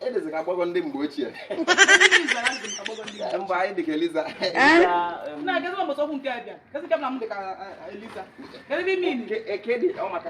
edezi ka agbọghọ ndị mgbe ochie mgbe anyị dịka eliza kedụ ọ maka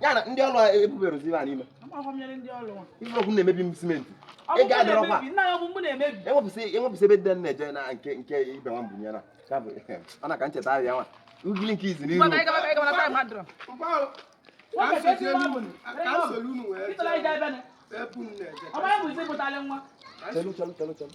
ya na ndị ọrụ ebubere ozi ha n'ime ife okwu na-emebi m simenti ego adịrọkwa enwepụsị ebe dị na-eje na nke nke ibe nwa mbunye na ọ na ka ncheta ahịa nwa ugili nke izi n'ihu Chelu, chelu, chelu, chelu.